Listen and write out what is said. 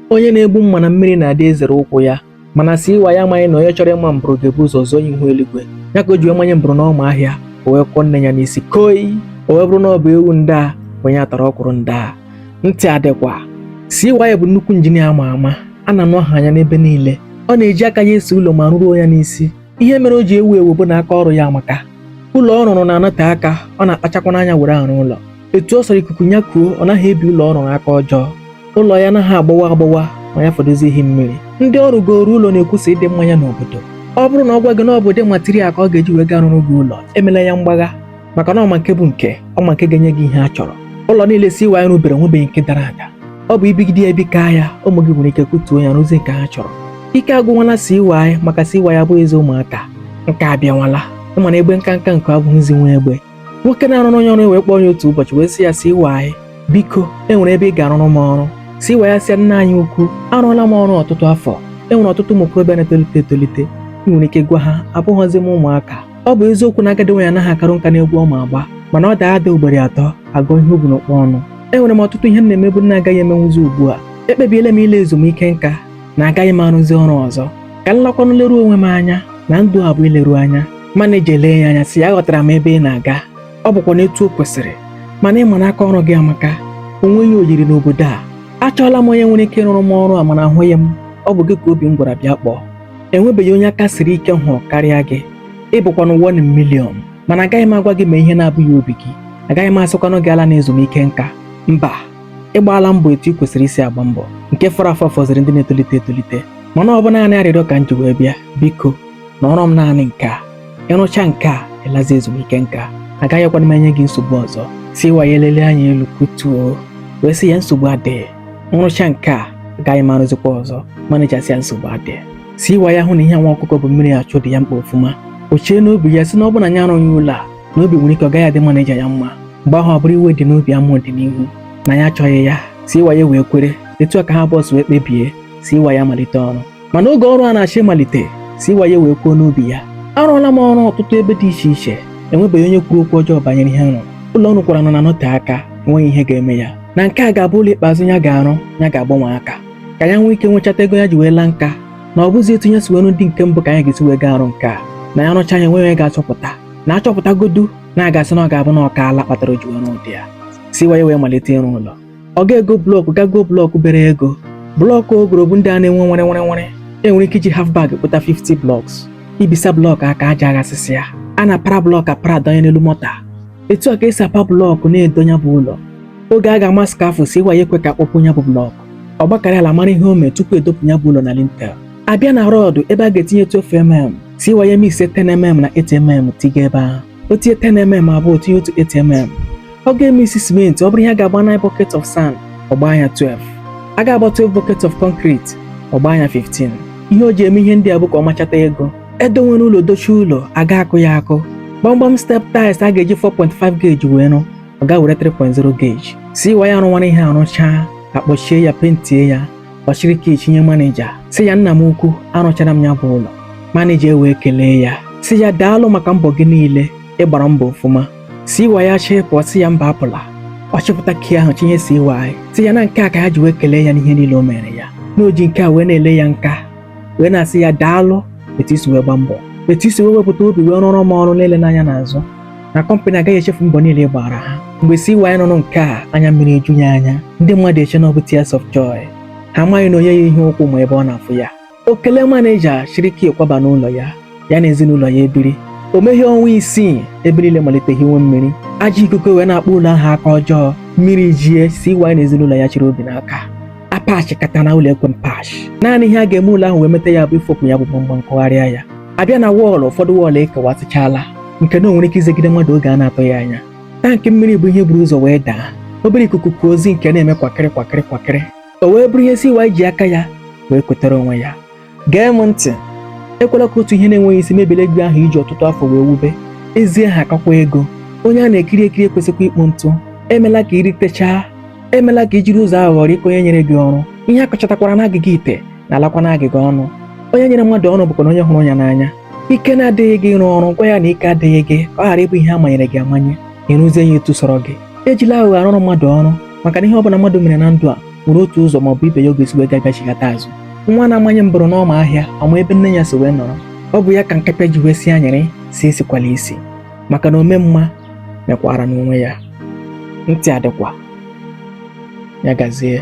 onye na-egbu mma na mmiri na-adị ezere ụkwụ ya mana CY amaghị na onye chọrọ ịma mbụrụ ga-ebu ụzọ zụọ ihu eluigwe ya ka o ji wee manye mbụrụ n'ọma ahịa o wee kụọ nne ya n'isi koi o wee bụrụ na ọ bụ ewu ndị a onye atara ọkwụrụ ndị a ntị adịkwa CY bụ nnukwu injinia ama ama a na-anụ aha ya n'ebe niile ọ na-eji aka ya ese ụlọ ma rụruo ya n'isi ihe mere o ji ewu ewu bụ na aka ọrụ ya amaka ụlọ ọ rụrụ na-anọte aka ọ na-akpachakwanụ anya were arụ ụlọ etu ọ sọrọ ikuku ya kuo ọ naghị ebi ụlọ ọ rụrụ aka ọjọọ ụlọ ya anaghị agbawa agbawa ma ya fọdụzie ihi mmiri ndị ọ rụgooro ụlọ na-ekwusa ịdị mma ya n'obodo ọ bụrụ na ọ gwa gị na ọ bụ ụdị material ka ọ ga-eji wee gaa rụrụ gị ụlọ emela ya mgbagha maka na ọ ma nke bụ nke ọ ma nke ga-enye gị ihe a chọrọ ụlọ niile CY rụbere nwebeghị nke dara ada ọ bụ ibigide ya ebikaa ya ụmụ gị nwere ike kụtuo ya rụzie nke ha chọrọ ike agwụnwala CY maka CY abụghịzi ụmụaka nka abịanwala ị ma na egbe nkanka nku abụghịzi nwa egbe nwoke na-arụrụ onye ọrụ wee kpọọ ya otu ụbọchị wee sị ya CY biko e nwere ebe ị ga-arụrụ m ọrụ CY asị ya nna anyị ukwu arụọla m ọrụ ọtụtụ afọ e nwere ọtụtụ ụmụ okorobịa na-etolite etolite i nwere ike gwa ha abụghọzi m ụmụaka ọ bụ eziokwu na agadi nwaanyị anaghị akarụ nka n'egwu ọ ma agba mana ọ daa ada ugboro atọ a gụọ ihe o bu n'ụkpa ọnụ enwere m ọtụtụ ihe m na-emebu m na-agaghị emenwuzi ugbu a ekpebiela m ịla ezumike nka na agaghị m arụzi ọrụ ọzọ ka m lakwanụ leruo onwe m anya na ndụ a bụ ileru anya maneja elee ya anya sị ya aghọtara m ebe ị na-aga ọ bụkwanụ etu o kwesịrị mana ị ma na aka ọrụ gị amaka o nweghị oyiri n'obodo a achọọla m onye nwere ike ịrụrụ m ọrụ a mana ahụghị m ọ bụ gị ka obi m gwara bịa kpọọ enwebeghị onye aka siri ike m hụrụ karịa gị ị bụkwanụ one million mana agaghị m agwa gị mee ihe na-abụghị obi gị agaghị m asịkwanụ gị alana ezumike nka mba ị gbaala mbọ etu i kwesịrị isi agba mbọ nke fọrọ afọ fọziri ndị na-etolite etolite mana ọ bụ naanị arịrịọ ka m ji wee bịa biko na ọrụ m naanị nke a ị rụchaa nke a ị lazie ezumike nka agaghịkwanụ m enye gị nsogbu ọzọ CY elelie anya elu kutuo wee sị ya nsogbu adịghị m rụchaa nke a agaghị m arụzikwa ọzọ maneja asị ya nsogbu adịghị CY ahụ na ihe nwa ọkụkọ bu mmiri achụ dị ya mkpa ọfụma o chee n'obi ya sị na ọ bụ na ya arụghị ụlọ a na obi nwere ike ọ gaghị adị maneja ya mma mgbe ahụ ọ bụrụ iwe dị n'obi ama ọdịnihu na ya achọghị ya CY wee kwere etu a ka ha abụọ si wee kpebie CY amalite ọrụ mana oge ọrụ a na-achọ ịmalite CY wee kwuo n'obi ya arụọla m ọrụ ọtụtụ ebe dị iche iche enwebeghị onye kwuru okwu ọjọọ banyere ihe m rụrụ ụlọ ọ rụkwara na-anọte aka enweghị ihe ga-eme ya na nke a ga-abụ ụlọ ikpeazụ ya ga-arụ ya ga-agbanwe aka ka ya nwee ike nwechata ego ya ji wee laa nka na ọ bụzi etu ya si wee rụọ ndị nke mbụ ka ya ga-esi wee gaa arụ nke a na ya rụchaa ya enweghị onye ga-achọpụta na achọpụtagodu na a ga-asị na ọ ga-abụ na ọ kaala kpatara o ji wee rụọ ụdị a CY wee malite ịrụ ụlọ ọ ga-ego blọkụ gaa goo blọkụ bere ego blọkụ o goro bụ ndị a na-enwe nwere nwere nwere e nwere ike iji half bag kpụta 50 blọks i bisa blọkụ aka aja aghasịsịa a na-apara blọkụ apara adọnye n'elu mọta etu a ka e si apa blọkụ na-edo ya bụ ụlọ oge a ga-ama skafụ CY ekwe ka akpọpụ ya bụ blọkụ ọ gbakarị ala mara ihe o mee tupu edopụ ya bụ ụlọ na lintel abịa na rọdụ ebe a ga-etinye 12 mm CY a mix 10mm na 8mm tiga ebe ahụ o tinye 10mm abụọ tinye otu 8mm ọ ga-emix simenti ọ bụrụ ihe a ga-agba 9 bucket of sand ọ gbaa ya 12 a ga-agba 12 bucket of concrete ọ gbaa ya 15 ihe o ji eme ihe ndị a bụ ka ọ machata ego edonwere ụlọ dochie ụlọ a ga-akụ ya akụ gbamgbam step tiles a ga-eji 4.5 gauge wee rụ ọ gaa were 3.0 gauge CY arụwara ihe arụchaa akpọchie ya pentie ya ọ chịrị key chịnye maneja sị ya nna m ukwu arụchara m ya bụ ụlọ maneja ewee kelee ya sị ya daalụ maka mbọ gị niile ị gbara mbọ ọfụma CY achọọ ịpụ ọ sị ya mba apụla ọ chịpụta key ahụ chịnye CY sị ya na nke a ka ya ji wee kelee ya n'ihe niile o meere ya na o ji nke a wee na-ele ya nka wee na-asị ya daalụ etu i si wee gba mbọ etu i si wee wepụta obi wee rụọrọ m ọrụ na-eleghị anya n'azụ na kọmpanị agaghị echefu mbọ niile ị gbaara ha mgbe CY nụrụ nke a anya mmiri eju ya anya ndị mmadụ eche na ọ bụ tears of joy ha amaghị na onye yi ihe ụkwụ ma ebe ọ na-afụ ya o kelee maneja chịrị key kwaba n'ụlọ ya ya na ezinụlọ ya ebiri o meghị ọnwa isii ebe niile malite hiwe mmiri ajọ ikuku wee na-akpa ụlọ ahụ aka ọjọọ mmiri jie CY na ezinụlọ ya chịrị obi n'aka apachịkata na ụlọ ekwe mpachị naanị ihe a ga-eme ụlọ ahụ wee meta ya bụ ifopụ ya bụ gbamgbam kụgharịa ya abịa na wọọlụ ụfọdụ wọọlụ ekewasịchala nke na o nwere ike izegide mmadụ oge a na-atụghị anya tankị mmiri bụ ihe buru ụzọ wee daa obere ikuku kuo zinc ana-eme kwakịrị kwakịrị kwakịrị o wee bụrụ ihe CY ji aka ya wee kwetara onwe ya gee m ntị ekwela ka otu ihe na-enweghị isi mebile ugwu ahụ i ji ọtụtụ afọ wee wube ezi aha kakwa ego onye a na-ekiri ekiri ekwesịkwa ikpu ntụ emela ka i ritechaa emela ka i jiri ụzọ aghụghọ rikpoo onye nyere gị ọrụ ihe a kọchatakwara n'agịga ite na-alakwa n'agịga ọnụ onye nyere mmadụ ọrụ bụkwanụ onye hụrụ ya n'anya ike na-adịghị gị ịrụ ọrụ gwa ya na ike adịghị gị ka ọ ghara ịbụ ihe a manyere gị amanye ị rụzie ya etu sọrọ gị ejila aghụghọ arụrụ mmadụ ọrụ maka na ihe ọ bụla mmadụ mere na ndụ a nwere otu ụzọ ma ọ bụ ibe ya ọ ga-esi wee bịachighata azụ nwa na-amanye mbụrụ n'ọma ahịa ọ ma ebe nne ya si wee nọrọ ọ bụ ya ka nkapịa ji wee sị anyịrị si esikwala isi maka na ome mma mekwaara onwe ya ntị adịkwa ya gazie